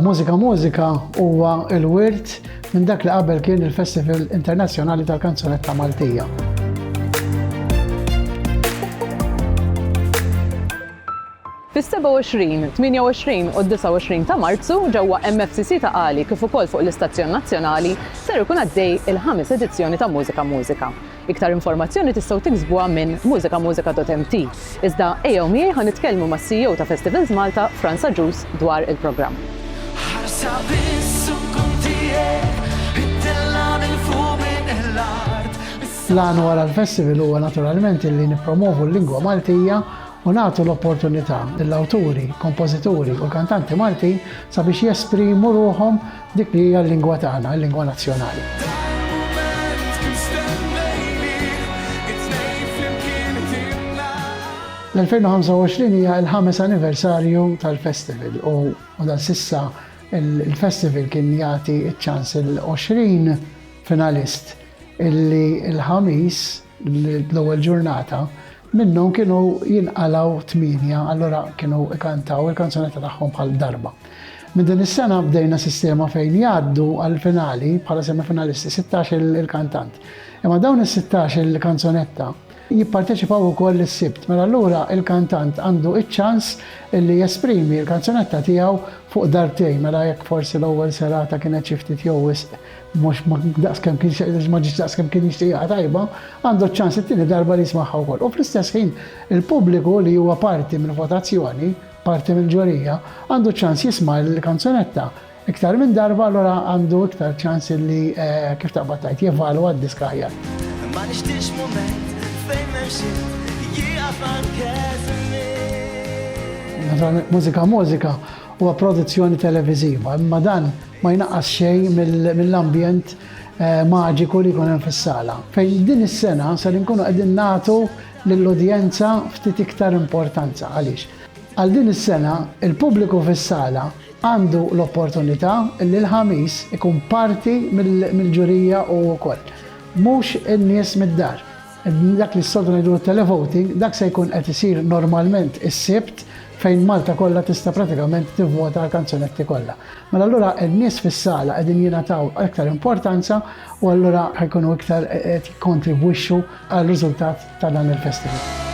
Mużika Mużika huwa il-wirt minn dak li qabel kien il-Festival Internazzjonali tal-Kanzunetta Maltija. Fis-27, 28 u 29 ta' Marzu ġewwa MFCC ta' Qali kif ukoll fuq l-istazzjon nazzjonali ser ikun għaddej il-ħames edizzjoni ta' Mużika Mużika. Iktar informazzjoni tistgħu tiksbuha minn musicamuzika.mt, iżda ejjew miegħi ħa nitkellmu mas-CEO ta' Festivals Malta, Frans Agius, dwar il-programm. Ħarsa biss u nkun tiegħek, ittella' minn fuq minn l-art. L-għan wara l-festival huwa naturalment illi nippromovu l-lingwa Maltija u nagħtu l-opportunità lill-awturi, kompożituri u l-kantanti Maltin sabiex jesprimu ruħhom Dik li hija l-lingwa tagħna, il-lingwa nazzjonali. L-2025 hija l-ħames anniversarju tal-festival u dan sissa il-festival kien jagħti ċ-ċans il-20 finalist illi l-ħamis L-ewwel ġurnata minnhom kienu jinqalgħu tmienja, allura kienu ikantaw il-kanzunetta tagħhom bħal darba. Minn din is-sena bdejna sistema fejn jgħaddu għall-finali bħala semifinalisti 16 il-kantant. Imma dawn is-16 il-kanzunetta jipparteċipaw ukoll is-sibt. Mela allura il-kantant għandu iċ-ċans li jesprimi l-kanzunetta tiegħu fuq darbtejn, mela jekk forsi l-ewwel serata kienet xi ftit jew wisq mhux daqs kemm kien xejn ma ġietx daqs kemm kien jixtieqha tajba, għandu ċ-ċans it-tieni darba li jismagħha wkoll. U fl-istess ħin, il-pubbliku li huwa parti mill-votazzjoni, parti mill-ġurija, għandu ċ-ċans jisma' l-kanzunetta iktar minn darba allura għandu iktar ċans li kif taqbad tgħid jevalwa d-disk aħjar. Ma nixtiex mument fejn m'hemm xejn jieqaf anke żmien. Naturalment mużika mużika huwa produzzjoni televiżiva, imma dan Ma jnaqqas xejn mill-ambjent maġiku li jkun hemm fis-sala, fejn din is-sena ser inkunu qegħdin nagħtu lill-udjenza ftit iktar importanza. Għaliex? Għal din is-sena, il-pubbliku fis-sala għandu l-opportunità li l-Ħamis ikun parti mill-ġurija hu wkoll. Mhux in-nies mid-dar. Dak li s-soltu ngħidulu t-televoting, dak se jkun qed isir normalment is-Sibt fejn Malta kollha tista' pratikament tivvota għal kanzunetti kollha. Mela allura n-nies fis-sala qegħdin jingħataw iktar importanza u allura ħajkunu iktar eh, qed jikkontribwixxu għal riżultat ta' dan il-festival.